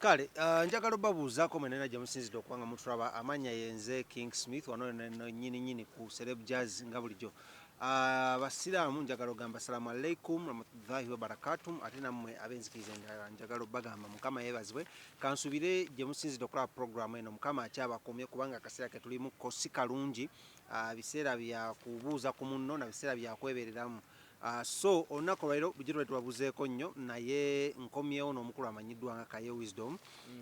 Kale uh, njagala obabuuzaako mwena era gyemusinzidde okuba nga mutulaba amanya yenze King Smith wano nyini nyini ku Celeb Jazz nga bulijjo ah, abasiraamu uh, njagala ogamba salamu alaikum ramatudhahi wabarakatum ate nammwe abenzikiriza endala njagala obagamba mukama yebazibwe kansubire gyemusinzidde okulaba programu eno mukama akyabakumye kubanga akaseera ketulimu ko si kalungi uh, biseera bya kubuuza ku munno na biseera bya kwebereramu Ahh so olunaku olwalero bulijjo tubadde tubabuzeeko nnyo naye nkomyewo n'omukulu amanyiddwa nga Kaye Wisdom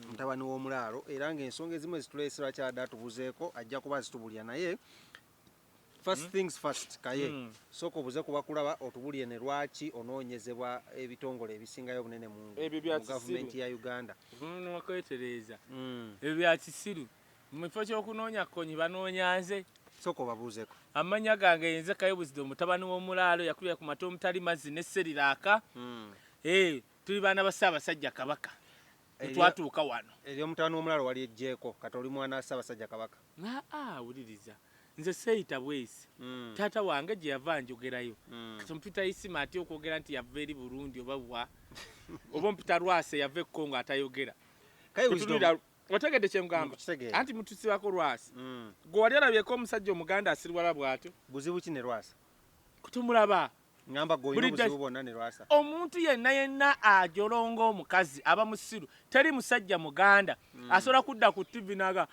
mutabani w'omulaalo era nga ensonga ezimu ezituleese lwaki abadde atubuzeeko ajja kuba azitubulira naye first things first Kaye sooka obuze ku bakulaba otubulire ne lwaki onoonyezebwa ebitongole ebisingayo obunene mu Ebyo bya kisiru. gavumenti ya Uganda. Vvuunuka kwetereeza. Ebyo bya kisiru. Mu kifo ky'okunoonya Kkonyi banoonya nze. Sooka obabuuzeko. Amannya gange ye nze Kayo Buzido mutabani w'omulaalo eyakulira ku mata omutali mazzi ne sseriraaka. Eeh tuli baana ba Ssaabasajja Kabaka ne twatuuka wano. Ery'omutabani w'omulaalo walyeggyeko kati oli mwana wa Ssaabasajja Kabaka. Aa wuliriza nze sseeyita bweyisi taata wange gye yava anjogerayo. Kati ompita Isima atya okwogera nti yava eri Burundi oba wa? Oba ompita Lwasa eyava e Congo atayogera? Kayo Buzido otegedde kyengamba mm, anti mutusibako lwasi mm. gwe wali olabyeko omusajja omuganda asirwala bwatyo buzibu ki ne lwasa kutumulaba ngamba goyina obuzibu bwonna ne lwasa omuntu yenna yenna ajolonga omukazi aba musiru teri musajja muganda mm. asobola kudda ku tivi naga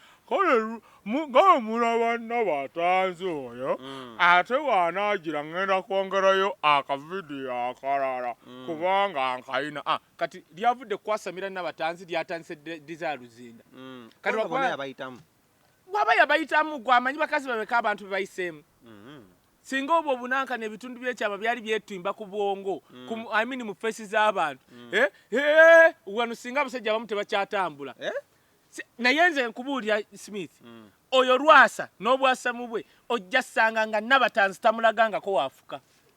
ngaomulaba naba atanzi oyo mm. ate waanaagira ngenda kwongerayo akavidiyo akalala mm. kubanga nkayina ah, Kati lyavudde kukwasamira Nabatanzi lyatandise Desire Luzinda. Mm. Kati wakuba yabayitamu. Waba yabayitamu gwamanyi bakazi babeka abantu bebayiseemu. Mm -hmm. Singa obwo bunanka ne bitundu byekyama byali byetimba ku bwongo mm. ku I mean mu face z'abantu. Mm. Eh? Eh, wano singa abasajja abamu tebakyatambula. Eh? Si, naye nze nkubuulira Smith. Mm. Oyo lwasa n'obwasamu bwe ojja sanga nga Nabatanzi tamulagangako wafuka.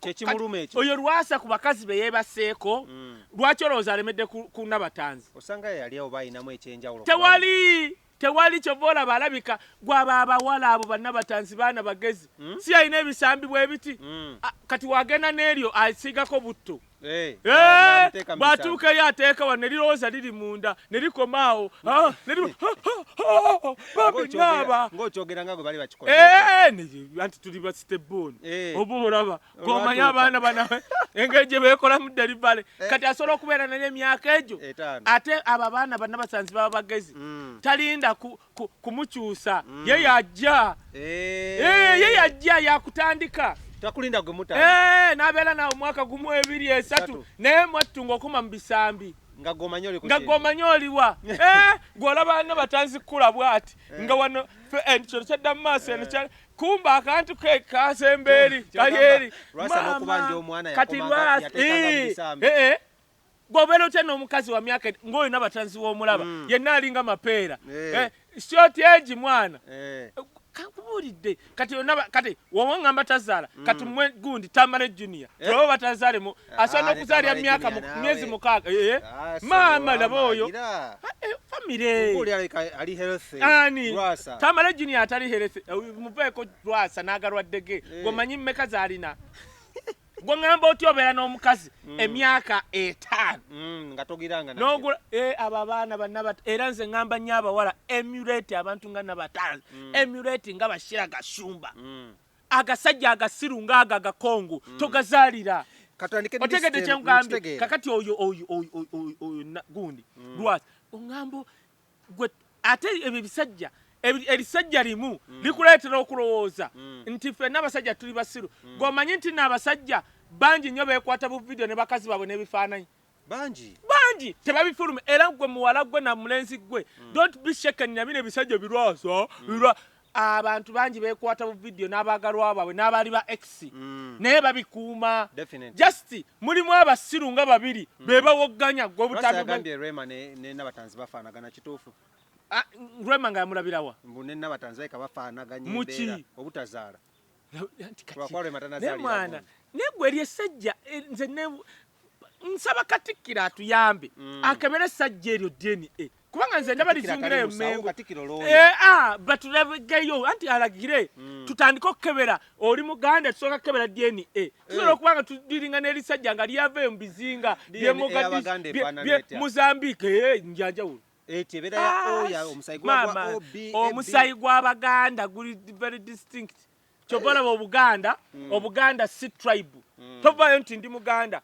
kyekimuluma ekyo oyo lwasa ku bakazi be yebaseeko mm. lwaki olowooza alemedde ku nabatanzi osanga yali oba ayinamu ekyenjawulo tewali tewali kyova olaba alabika gwaba abawala abo banabatanzi baana bagezi mm. si alina ebisambi bwebiti mm. kati wagenda n'eryo asiigako butto Eh, bw'atuuka eri ateeka wano ne lirowooza liri munda ne likoma awo ah, babinaaba anti tuli basitebooni eh. oba olaba gomanye abaana bana engeri gye beekolamu deribale eh. kati asobola okubeera naye emyaka egyo ate abo abaana banabasanzi baba bagezi mm. talinda kumukyusa mm. ye yajja eh. Eh, ye yajja yakutandika takulinda gwe muta eh, nabeera nawe omwaka gumu ebiri esatu naye mwattu ngaokuma mu bisambi nga gomanya oliwa gwolaba no batanzikula bwati nga wano kino kyadda mu maaso eno kumba akantu ke kasembeeri kali eri kati lwasi Gwe obeera otya n'omukazi wa myaka ng'oyo nabatanzi w'omulaba mm. yenna alinga mapeera eh. Eh, si otya egi mwana eh. kakubuulidde kati yonna kati woba ngamba tazaala mm. kati mwe gundi tamale junior eh? tulaba batazaalemu ah, asobola n'okuzaalira mu myaka myezi mukaaga eh, eh? ah, maama laba oyo ah, famire ani tamale junior atali herese muveeko lwasa n'agalwaddege gwemanyi mmeka zaalina gwe ŋŋamba oti obeera n'omukazi mm. emyaka etaano mm, eh, abo abaana banaba era nze ŋŋamba nnyo abawala emulate abantu nga nabataano mm. emulate nga bashira gasumba agasajja agasiru ngaago agakongo togazaalira otegedde kyeŋgambye kakati oyo oyo oyo oyo gundi lwaki oŋŋamba gwe ate ebyo ebisajja erisajja limu mm. likuleetera okulowooza mm. nti fenna abasajja tuli basiru mm. gweomanyi nti naabasajja bangi nnyo beekwata bu vidiyo ne bakazi baabwe n'ebifaananyi bangi bangi tebabifuluma era gwe muwala gwe na mulenzi gwe mm. don't be shaken nabino ebisajja birwaso mm. abantu bangi bekwata bu video n'abaagalwa baabwe n'abaali ba ex mm. naye babikuuma just mulimu abasiru nga babiri mm. be bawogganya gwe obutambugambye rema ne nabatanzi bafaanagana kituufu ah, rema nga yamulabirawa mbu ne nabatanzi baika bafaanaganya embeera obutazaala naye mwana naye gwe eri essajja eh, nze nsaba katikkiro atuyambe mm. akebere essajja eryo dna eh, kubanga nze ndaba lizingirayo mengo eh, ah, batulageyo anti alagire mm. tutandike okukebera oli muganda tusooka kukebera dna tusobola okuba nga tudiringa n'erisajja nga lyavaeyo mu bizinga byemugadi muzambike njanjawulo omusayi gw'abaganda guli very distinct kyova olaba obuganda hmm. obuganda si tribe hmm. tovayo nti ndi muganda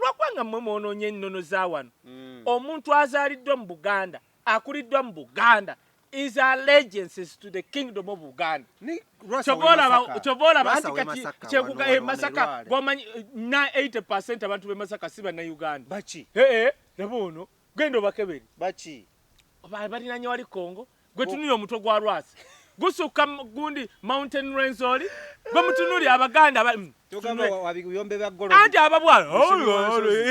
lwakuba nga mwe mwononye ennono za wano hmm. omuntu azaaliddwa mu buganda akuliddwa mu buganda is allegiances to the kingdom of Uganda. Chobola chobola basi kati chekuka e masaka gomanyi na 80% abantu be masaka siba na Uganda. Bachi. Eh eh nabo ono Genda obakebere. Baki? Ba balinanye wali Kongo. Gwe tunuli omutwe gwa Rwasi. Gusukka gundi Mountain Rwenzori. Gwe mutunuli abaganda ba mm, Tugamba wabiyombe bya golo. Andi ababwa.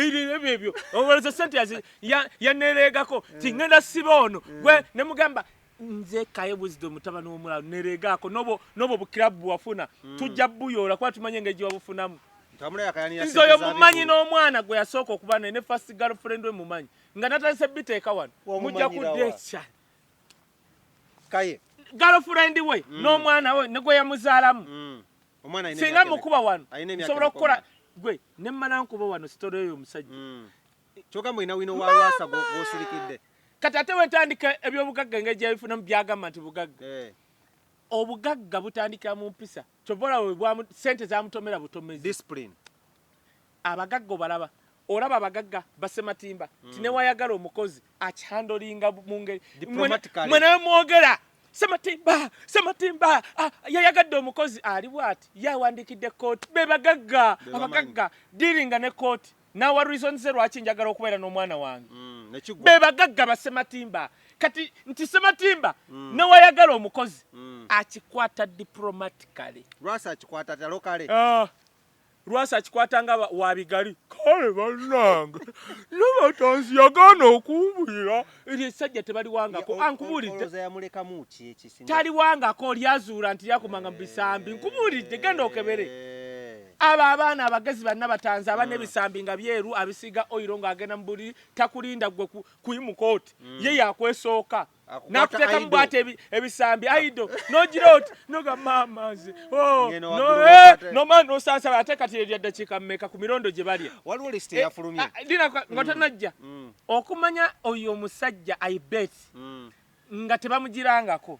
Ili ebyo ebyo. Owezo sente ya ya neregako. Tingenda siba ono. Gwe ne mugamba nze kaye wisdom mutabani womulalu neregaako nobo nobo bukirabu bwewafuna mm. tujja buyoola kuba tumanyi engeri gyewabufunamu nze oyo mumanyi n'omwana gwe yasooka okuba naye ne fast girlfriend we mumanyi nga natandise biteeka wano mujja kudeca kaye girlfriend we mm. n'omwana we negwe yamuzaalamu mm. singa mukuba wano nsobola okukola gwe nemmala nkuba wano sitore oyo omusajja mm. kyoka mbu olina wino wa lwasa gwosirikidde kati ate wetandika ebyobugagga engeri gyebifunamu byagamba nti bugagga eh. obugagga butandikira mu mpisa kyova olaba sente zamutomera butomezi abagagga obalaba olaba abagagga basematimba mm. ti newayagala omukozi akihandolinga mu ngeri mwenawe mwogera sematimba sematimba ah, yayagadde omukozi ali bwati yawandikidde kooti bebagagga abagagga diringa ne kooti nawa reasons ze lwaki njagala okubeera n'omwana wange mm, be bagagga basematimba kati nti sematimba mm. newayagala omukozi mm. akikwata diplomatically lwasa akikwata talokale ah. lwasa akikwata nga wabigali kale banange nabatanzi yagaana okumbulira eryo essajja tebaliwangako ankubuliddetaliwangako lyazuula nti lyakumanga mu bisambi nkubulidde genda okebere eh. abo abaana abagezi banna batanzi abana mm. ebisambi nga byeru abisiga oyiro ng'agenda mu buliri takulinda gwe kuyimuka oti mm. ye yakwesooka nakuteeka mu bwata ebisambi aido nogira oti noga maama nze oh, nomana eh, nosansaba ate kati erya ddakiika mmeka ku mirondo gye balya waliwo lisiti eh, eyafulumye ah, nga tanajja mm. Okumanya oyo omusajja I bet nga tebamujirangako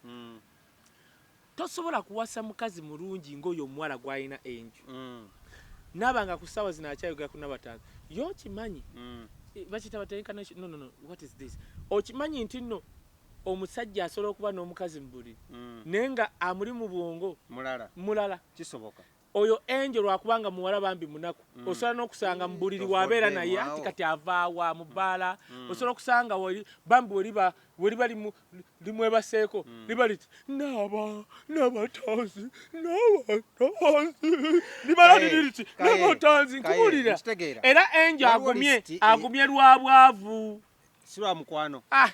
tosobola kuwasa mukazi mulungi nga oyo omuwala gwalina enju naba nga ku sawa zino akyayogera ku Nabatanzi ye okimanyi bakiyita batya incarnation no no no what is this okimanyi nti no omusajja asobola okuba nomukazi mubuliri naye nga amuli mubwongo mulala kisoboka Oyo Angel lwakuba nga muwala bambi munaku osobola nokusanga mubuliri wabeera naye anti kati avaawa mubbaala osobola okusanga bambi weliba weliba limwebaseeko liba liti naaba nabatanzi nabatanzi limala liri liti nabatanzi nkubuulira era Angel agumye agumye lwabwavu. silwa mukwano ah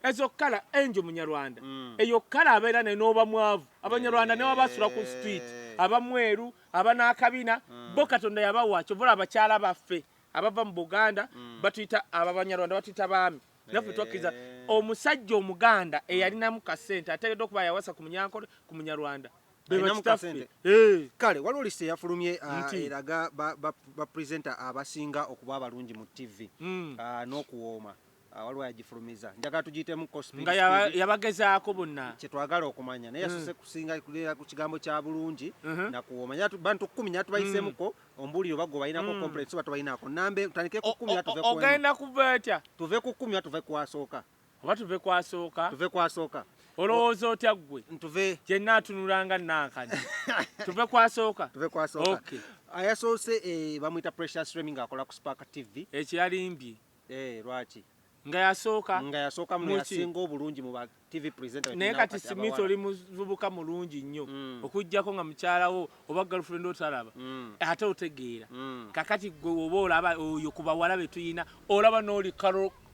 ezo kala enjo munyarwanda mm. eyo kala abeera ne noba mwavu abanyarwanda hey. newabasula ku street abamweru abanakabina mm. bo katonda yabawa kyovula abakyala baffe abava mu buganda mm. batuyita ababanyarwanda batuyita baami naffe twakkiriza omusajja omuganda eyalinamu kasente ateekeddwa okuba yawasa ku munyankole ku munyarwanda Eh. kale waliwo list eyafulumye ah, eraga bapresenta abasinga okuba abalungi mu tv hmm. ah, n'okuwooma ah, waliwo yagifulumiza njagala tugiyitemu nga yabagezaako bonna kyetwagala okumanya naye yasose hmm. kusinga kulera ku kigambo kya bulungi uh-huh. nakuwooma bantu kumi naye tubayisemuko hmm. ombuulire oba gwe balinako complex oba tobalinako nambe tutandike ku kumi ogenda kuva etya tuve ku kumi oba tuve kwasooka Oba tuve ku asooka? Tuve ku asooka. Olowooza otya ggwe? Ntuve. Gye nnaatunula nga nnankanya. Tuve ku asooka? Tuve ku asooka. Okay. Ayasoose eh, bamuyita Precious Remy ng'akola ku Spark TV. Ekyo yalimbye. Eh, lwaki? nga yasooka nga yasooka mu yasinga obulungi mu ba TV presenter naye kati Smith oli muvubuka mulungi nnyo mm. okujjako nga mukyala wo oba girlfriend otalaba mm. ate otegeera mm. kakati gwe oba olaba oyo ku bawala be tuyina olaba n'oli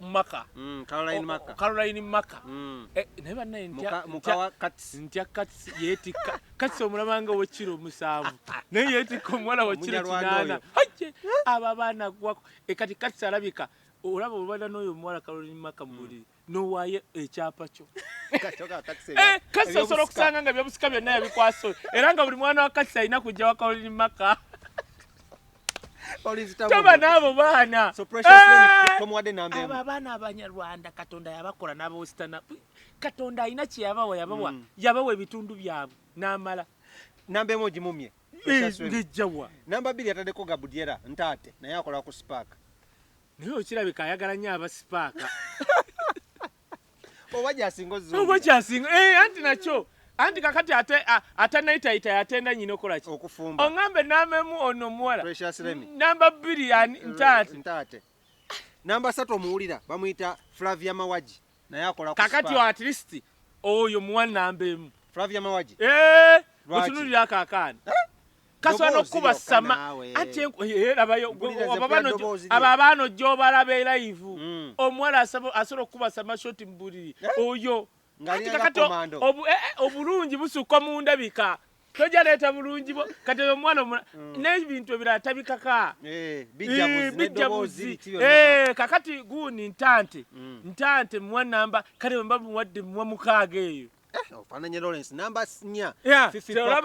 maka mm, Caroline maka Caroline maka mm. eh, naye banaye ntya mukawa kats ntya kats yeti kats omulabanga wekiro musavu naye yeti ko mwala wekiro kinana haje aba bana gwako e kati kats alabika olaba obada noyo mwala Caroline maka mbuli mm. no waye ekyapa kyo katoka kats eh kats osoro kusanga nga byabusika byonna yabikwaso era nga buli mwana wa kats ayina kujja wa Caroline maka toba naabo baana abo abaana abanyarwanda katonda yabakola nabawesitana katonda alina kyeyabawa yabawa mm. yabawa ebitundu byabwe namala namba emu ogimumye ngejjawa namba bbiri yatadeko gabudyera ntaate naye akola ku sipaaka naye okirabika ayagala nyo abasipaaka oba kyasinga oba kyasinga eh, anti nakyo anti kakati ate atanayitayita yatenda nyina okola ki okufumba oŋambe namemu ono omuwala namba bbiri ntaate namba satu omuwulira bamuyita flavia mawagi naye akola kakati at least oyo muwa namba emu flavia mawagi eh, otunulira kakaani eh? kasobola n'okukuba sama anti erabayo abo abaana ojja obalaba eraivu mm. omuwala asobola okukuba sama shoti mu buliri eh? oyo anti kakati eh, eh, obulungi busukka mu ndabika toja leeta bulungi bwo kati oyo omwana omula mm. n'ebintu ebirala tabikaka bijja buzi kakati guuni ntante mm. ntante muwa namba kale wemba muwadde muwa mukaaga eyo Eh, ofananye lawrence namba nya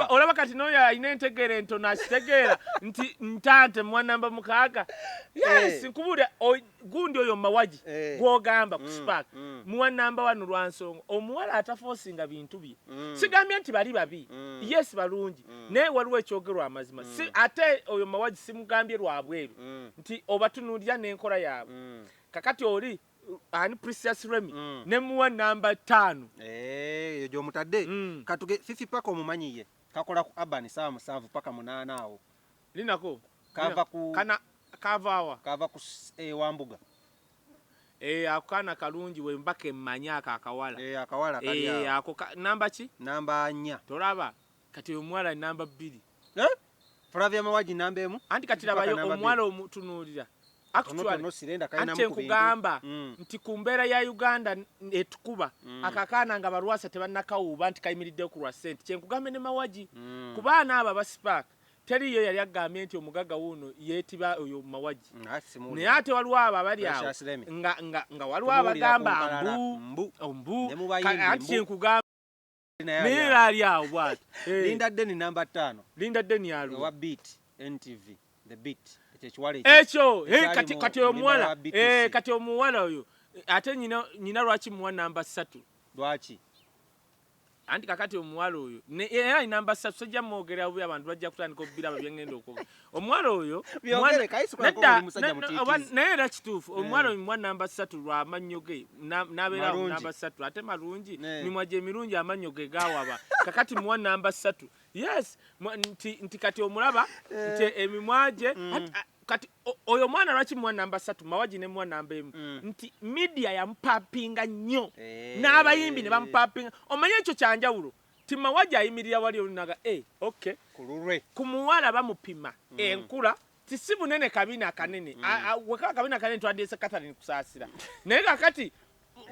olaba kati noyo alina entegeera entono akitegeera nti ntaate mwanamba mukaaga yes eh. nkubuulira gundi oyo mumawagi eh. gwogamba ku mm, spark mm. muwa namba wano lwansonga omuwala atafoosinga bintu bye mm. sigambye nti bali babi yes balungi naye waliwo ekyogerwa amazima ate oyo mumawagi simugambye lwabweru nti obatunulira n'enkola yaabwe kakati oli ani Precious Remy mm. ne muwa namba 5 eh eyo gyomutadde mm. katuge fifi paka omumanyi ye kakola ku urban saa musanvu paka munaana awo linako kava ku kana kava awa kava ku eh, wambuga eh akana kalungi we mbake manya akawala eh akawala kali eh ako namba ki namba 4 tolaba Kati oyo omuwala namba bbiri. Eh? Flavia Mawagi namba emu. Anti kati labayo omuwala omutunuulira. Ante nkugamba mm. nti ku mbeera ya Uganda etukuba mm. akakaana nga balwasa tebannakawuuba nti kayimiriddeyo ku lwa ssente kyenkugambe ne mawagi mm. ku baana abo abasipaaka teriyo yali agambye nti omugagga wuuno yeetiba oyo mawagi mm, naye ate waliwo abo abali awo nga waliwo abagamba mbu mbu anti kyenkugamba naye ali awo bwati eh. linda deni namba ttaano linda deni yali owa beat ntv the beat ekyo eh, kati kati omuwala eh, kati omuwala oyo ate nyina nyina lwaki muwa namba ssatu lwaki anti kakati omuwala oyo era namba ssatu sojja mwogera bubi abantu bajja kutandika obubiraba byengenda okwogera omuwala oyo naye era kituufu eh. omuwala oyo mwa namba satu lwa amannyo ge nabeerawo namba satu ate malungi eh. mimwa gye mirungi amannyo ge gawaba kakati muwa namba satu yes nti kati omulaba eh. nti emimwa gye mm. kati oyo mwana lwaki muwa namba satu mawagi ne muwa namba emu mm. nti midia yamupapinga nnyo n'abayimbi ne bamupapinga omanye ekyo kyanjawulo Tima waja ayimirira wali oluno aga e ok kululwe ku muwala bamupima mm. enkula ti si bunene kabina kanene mm. wekaba kabina kanene twandiese Catherine kusasira naye kakati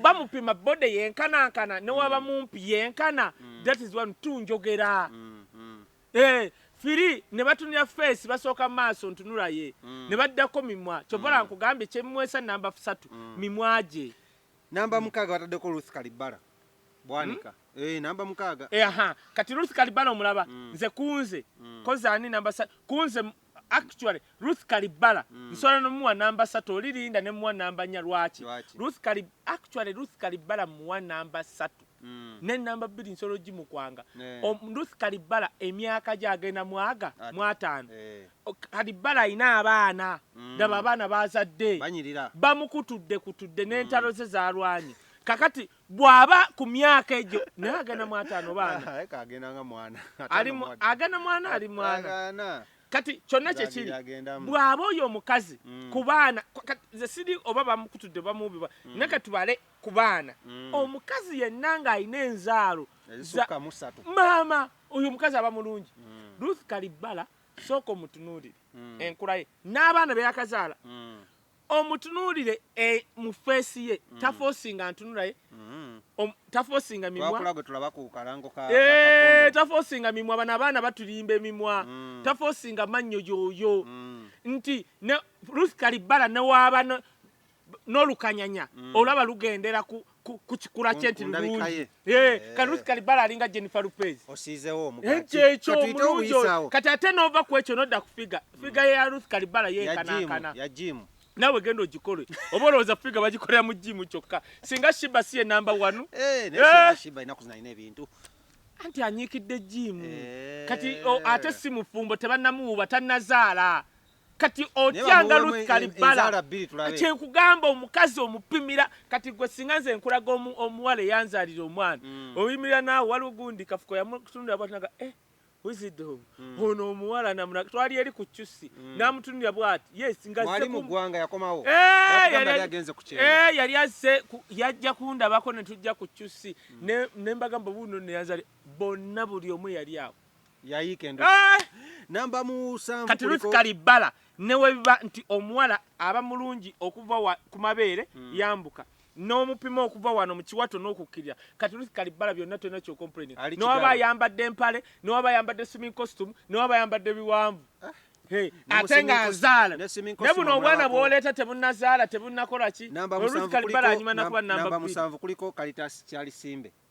bamupima bode yenkanankana newaba mm. mumpi yenkana mm. that is one two njogera mm. Mm. Eh, firi ne batunira face basooka maaso ntunula ye mm. ne baddako mimwa kyovala mm. nkugambye kyemwesa namba fusatu mm. mimwa gye Namba mukaaga bataddeko Ruth Kalibbala Bwanika hmm? eh, namba mukaaga eh, aha kati Ruth Kalibbala omulaba mm. nze kunze mm. kozi ani namba sa kunze actually Ruth Kalibbala mm. nsobola nomuwa namba satu oli linda ne muwa namba nya lwaki Ruth Kalib actually Ruth Kalibbala muwa namba satu mm. ne namba bbiri nsolo gi mu kwanga yeah. ruth kalibbala emyaka gye agenda mwaga mwataano yeah. kalibbala alina abaana mm. daba abaana bazadde bamukutudde kutudde n'entalo mm. ze zalwanye kakati bwaba ku myaka egyo naye agenda mwataano baana agenda mwana ali mwana kati kyonna kyekiri bwaba oyo omukazi mm. ku baana ze siri oba bamukutudde bamubiba mm. naye katubale ku baana mm. omukazi yenna ng'alina enzaalo maama oyo omukazi aba mulungi mm. ruth kalibbala sooka omutunuulire mm. enkula ye n'abaana beyakazaala mm. omutunuulire e, mu feesi ye mm. tafoosinga ntunula ye mm. tafoosinga mimwatafoosinga eh, mimwa bano abaana batulimba emimwa mm. tafoosinga mannyo yoyo mm. nti ne ruth kalibbala newaaba n'olukanyanya mm. olaba lugendera ku ku kikula kye nti lulungi kati Ruth Kalibala alinga Jennifer Lopez osiizewo omugaati ekyo omulungi kati ate n'ova ku ekyo n'odda ku figa mm. figa ya Ruth Kalibala yenkanankana ya jimu nawe genda ogikole oba olowooza figa bagikolera mu jimu kyokka singa shiba si ye namba wanu eh, anti anyiikidde jimu eh. kati ate si mufumbo tebannamuwuba tannazaala kati otyanga Ruth Kalibala kyenkugamba omukazi omupimira kati gwe singa nze nkulaga omuwala eyanzalira omwana mm. oyimirira naawe waliwo gundi kafuko yamutundira bwatinaga eh, wizido mm. ono omuwala namuna twali eri ku cusi mm. namutunira bwati yes ngayali azze eh, eh, yajja kundabako netujja ku cusi nembagamba buno neyanzali bonna buli omu yali awo yayiika endu eh! namba musanvu kati Ruth Kalibbala ne bwe biba nti omuwala aba mulungi okuva wa, ku mabeere mm. yambuka n'omupima okuva wano mu kiwato n'okukkirira kati Ruth Kalibbala byonna tolina kyokomplaini newaba ayambadde empale newaba ayambadde swimming costume newaba ayambadde biwanvu ah. ate nga azaala ne buno obwana bwoleeta tebunazaala tebunakola ki Ruth Kalibbala anyuma nakuba namba musanvu kuliko Kalitas Kyalisimbe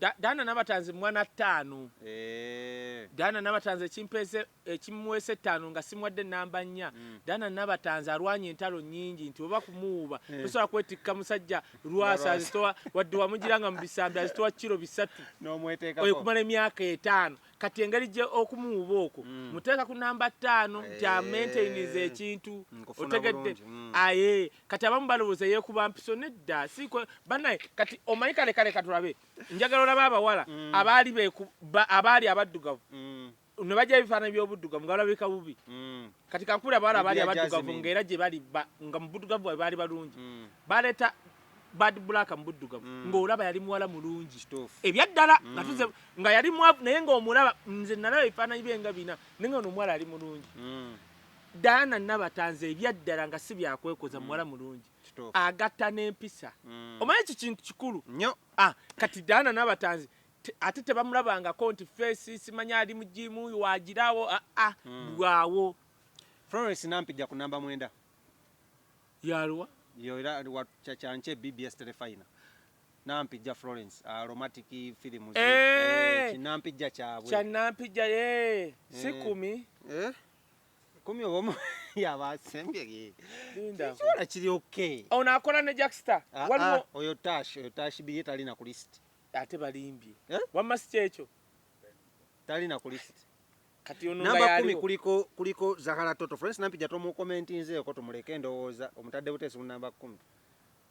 Da, Daana Nabatanzi mwana ttaano. Eeh. Daana Nabatanzi ekimpeese, ekimuweesa ettaano nga simuwadde nnamba nnya. Mm. Daana Nabatanzi alwanye entalo nnyingi nti oba kumuwuuba, eh. tosobola kwetikka musajja Lwasa azitowa, wadde wamugiranga mu bisambi azitowa kkiro bisatu. N'omweteekako. Oyo kumala emyaka etaano. Kati engeri gye okumuwuuba okwo, mm. muteeka ku nnamba ttaano nti eh. amaintainize ekintu. Otegedde? Mm. Aye. Kati abamu balowooza yeekuba mpiso nedda si kwe banaye kati omanyi kale kale katulabe njagala olaba abawala mm. abaali abaali abaddugavu mm. ne bajja ebifaananyi by'obuddugavu nga balabika bubi mm. kati kankubira abawala abaali abaddugavu nga era gye bali nga mu buddugavu bwabwe baali balungi mm. baleeta bad black mu buddugavu mm. ng'olaba yali muwala mulungi ebyaddala mm. nga tuze nga yali mwavu naye ng'omulaba nze nalaba ebifaananyi bye nga bina naye nga ono omuwala ali mulungi mm. Diana Nabatanzi ebyaddala nga si bya kwekoza, muwala mm. mulungi agatta n'empisa. Mm. Omanyi ki kintu kikulu nnyo. Ah, kati Diana Nabatanzi ate tebamulabangako nti feesi simanyi ali mu jiimu wagiraawo aa ah, ah, mm. bwawo. Florence Nampijja ku namba mwenda yaluwa yo era wakyakyanke BBS Telefina Nampijja Florence aromatic ah, film eh! eh, kinampijja kyabwe kinampijja ye eh. sikumi eh kumi oba omu yaba asembye linda kisobola kiri okay ono akola ne jackstar ah, waliwo ah, oyo tash oyo tash biye tali na ku list ate balimbye eh? wamma si kyekyo tali na ku list kati ono namba kumi kuliko kuliko zahara toto friends nampi jato mu comment nze ko tumuleke ndowooza omutadde butesi mu namba kumi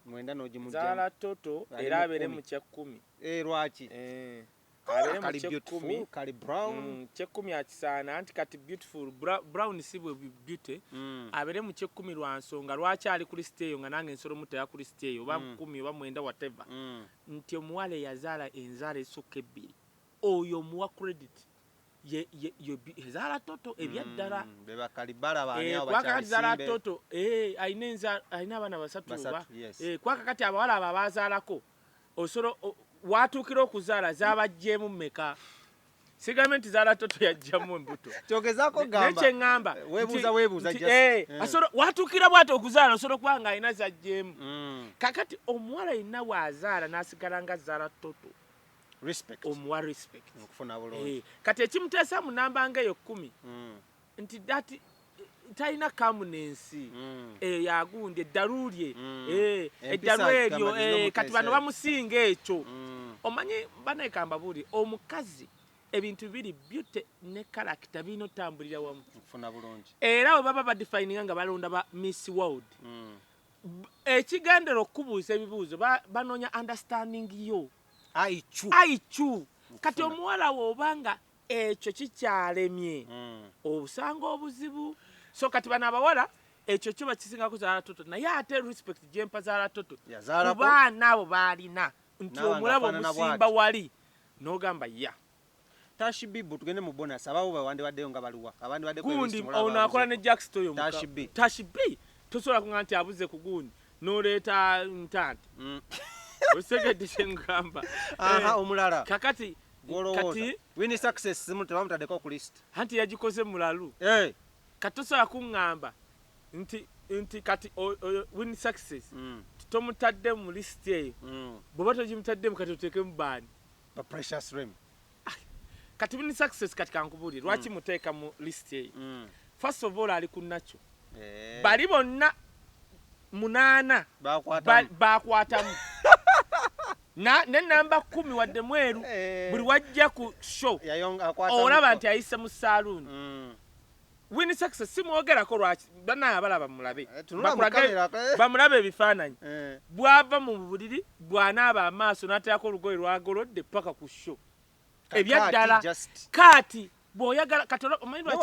mwenda n'ogimujja zahara toto era abere mu kya kumi eh lwaki eh kabeere mu kyekkumi mm, kyekkumi akisaana anti kati beautiful brown si bwe beauty mm. abeere mu kyekkumi lwa nsonga lwaki ali ku lisiti eyo nga nange nsolo mutera ku lisiti eyo oba mm. kumi oba mwenda wateva nti omuwala eyazaala enzaala esukka ebbiri oyo omuwa credit ezaala toto ebyaddala kwakakatizaala toto alina abaana basatu oba kwakakati abawala abo abazaalako Osolo watuukira okuzaala zaabajjeemu mmeka? Sigambye nti zaala toto yajjamu embuto. Kyogezaako gamba. Naye kye ngamba. Weebuuza weebuuza just. Eh, eh. Asolo watuukira bw'ati okuzaala osolo kuba ng'alina zajjeemu. Mm. Kakati omuwala yenna bw'azaala n'asigala nga zaala toto. Respect. Omuwa respect. Okufuna bulungi. Eh, kati ekimuteesa mu namba ng'eyo kkumi. Mm. nti that talina kamunensi mm. eyo yagundi eddalu lye mm. eh, eddalu eryo eh, kati bano bamusinga ekyo mm. omanyi banekamba buli omukazi ebintu biri beauty ne karakita birina otambulira wamu era we baba badifininga nga balonda ba miss world ekigendera okukubuuza ebibuuzo banoonya understanding yo aicu kati omuwala woobanga ekyo kikyalemye obusanga obuzibu so kati bano abawala ekyo kyo bakisingako zaala toto naye ate respect gyempa zaala toto Yazaalako? ku baana abo baalina nti N'abantu omulaba afaanana omusimba bw'ati. wali n'ogamba ya Tashi Bibu tugende mu bonus abaawo be wandibaddeyo nga baliwa abandibadde ku gundi erisi mulaba ono akola ne abuzeeko. jackst oyo muka- Tashi B. tashi b tosobola kuga nti abuze ku gundi n'oleeta ntante Mm. okitegedde kyengamba Aha, Eh, omulala kakati kati wini success simu tebamutadeko ku list anti yagikoze mulalu eh kati tosobola kungamba nti nti kati oyo wini success mm. tomutadde mu list eyo mm. bwoba togimutaddemu kati oteekemu baani ba precious rim ah, kati wini success kati kankubuli lwaki mm. muteeka mu list eyo mm. first of all ali ku nakyo eh. bali bonna munaana bakwatamu ba, ba Na, ne nnamba kkumi wadde mweru, buli w'ajja ku show olaba nti ayise mu saaluuni. Winnie Success simwogerako lwaki? Bannange abalaba mulabe, bakulage, bamulabe ebifaananyi. Bw'ava mu buliri, bw'anaaba amaaso n'ateerako olugoye lw'agolodde ppaka ku show. Ebya ddala. Kaati bw'oyagala, kati olaba, omanyi lwaki?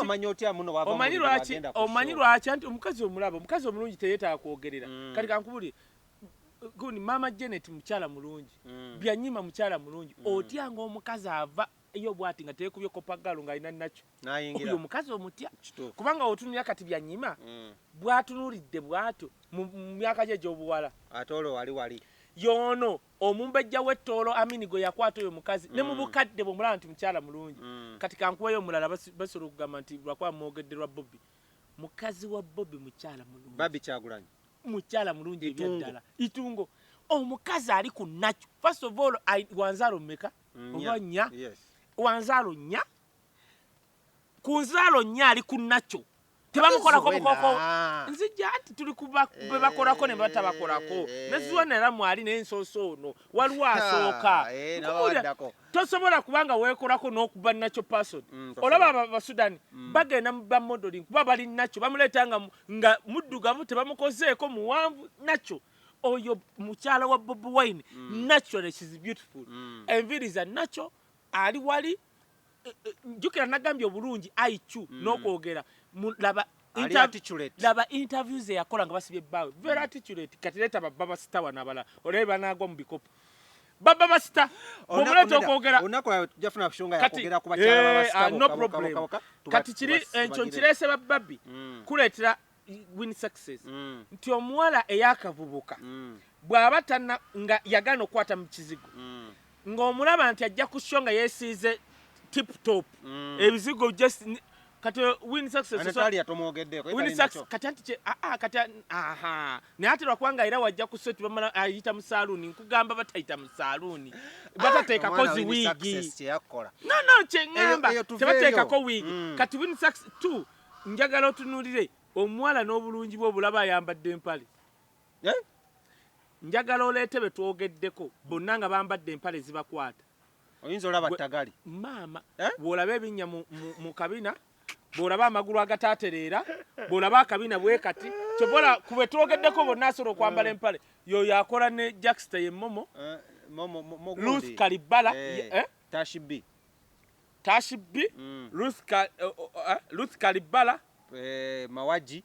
Omanyi lwaki, omanyi lwaki? Anti omukazi omulaba, omukazi omulungi teyeetaaga kwogerera. Kati kankubulire. Maama Janet mukyala mulungi mm. Byanyima mukyala mulungi mm. Otya nga omukazi ava yo bwati nga tekubye kopa galu nga alina nakyo oyo omukazi omutya kubanga otunulira kati byanyima mm. bwatunulidde bwatyo mu myaka gye gyobuwala ate olwo wali wali yono omumbejja wettoolo amini gwe yakwata oyo mukazi mm. ne mu mm. bukadde bwomulaba nti mukyala mulungi mm. kati kankuweyo omulala basobola okugamba nti lwakuba mwogedde lwa bobi mukazi wa bobi mukyala mulungi babi kyagulanyi mukyala mulungi ebyaddala itungo omukazi ali ku nakyo first of all wanzaalo mmeka oba nnya wanzaalo nnya ku nzaalo nnya ali ku nakyo tebamukolako mukoko nzija nti tuli kubebakolako eh, ne batabakolako eh, eh. neziwanera mwali nensoosa ono waliwo asooka tosobola kuba nga weekolako n'okuba nakyo person mm, olaba abo abasudani mm. bagenda mu ba modeling kuba bali nakyo bamuleeta nga, nga muddugavu tebamukozeeko muwanvu nakyo oyo mukyala wa bobi wine mm. naturally shes beautiful mm. enviiri za nakyo ali wali e, e, jjukira nagambye obulungi iq mm. n'okwogera laba ali articulate laba interview ze yakola nga basibye bawe very mm. articulate kati leta baba basita wanabala olebe banagwa mu bikopo baba basita omuleta okwogera onako jafuna kushonga yakogera kuba kyaba eh, basita ah, no problem kati kiri encho eh, nkirese bababi mm. kuletera win success mm. nti omuwala eyakavubuka bwaba tana nga yagana okwata mu kizigo ng'omulaba nti ajja ku sho nga yesiize tip top ebizigo just kati win success so Natalia tomogedde ko win success kati anti che a a kati aha ne ati lwa kwanga ira wajja ku set bamala ayita mu saloon nkugamba batayita mu saloon ah, batateka ko zi wigi no no che ngamba tebateka ko wigi mm. kati win success tu njagala otunulire omuwala n'obulungi bwo bulaba ayambadde empale eh? njagala oleete betwogeddeko bonna nga bambadde empale zibakwata oyinza olaba ttagali maama eh? bw'olaba ebinnya mu kabina bw'olaba amagulu agataatereera bw'olaba akabina bwe kati kyobola ku be twogeddeko bonna asobola okwambala eh. empale yoyo akola ne jacksta ye momo eh, luth kalibbala tashibi tashibi luth kalibbala mawaji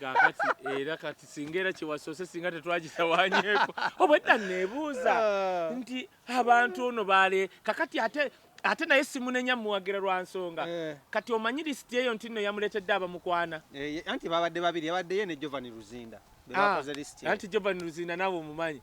kakati era kati singa era kyewasoose singa tetwagitawanyeko obwedda nebuuza ah. nti abantu ono baale kakati ate ate naye simunenya muwagira lwa nsonga eh. kati omanyi lisiti eyo nti nno yamuleetedde abamukwana eh, anti babadde babiri yabadde ye ne jovan luzinda ah, anti jovan luzinda naawe omumanyi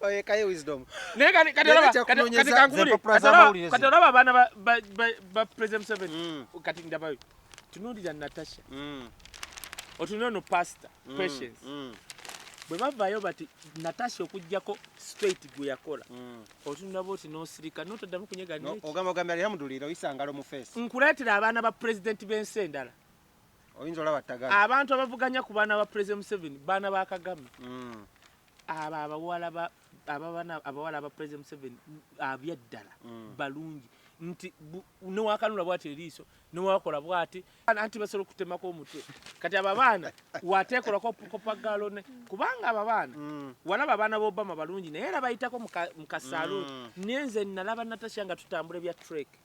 oyekayo wisdom naye kati kati olaba kati kankubuli kati olaba abaana ba ba ba president seven mm. kati ndabayo tunulira natasha mm. otunulira no pastor mm. patience mm. bwe bavayo bati natasha okujjako straight gwe yakola mm. otunulaba oti nosirika notoddamu kunyega no, ogamba ogambye alhamdulira oyisangalo mu face nkuleetera abaana ba president b'ensi endala oyinza olaba tagala abantu abavuganya ku baana ba president museveni baana ba kagame mm. abo abawala ba ababana abawala aba president museveni abyaddala mm. balungi nti newakanula bwati eriiso newakola bwati anti basobola okutemako omutwe kati abo abaana wateekolako kopagaalone kubanga abo abaana mm. walaba abaana bobama balungi naye era bayitako mu kasaaluuni mm. naye nze nalaba natasha nga tutambula ebya trake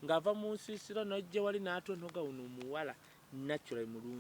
ng'ava mu nsiisira n'ajja wali n'atontoga wuno omuwala natural mulungi.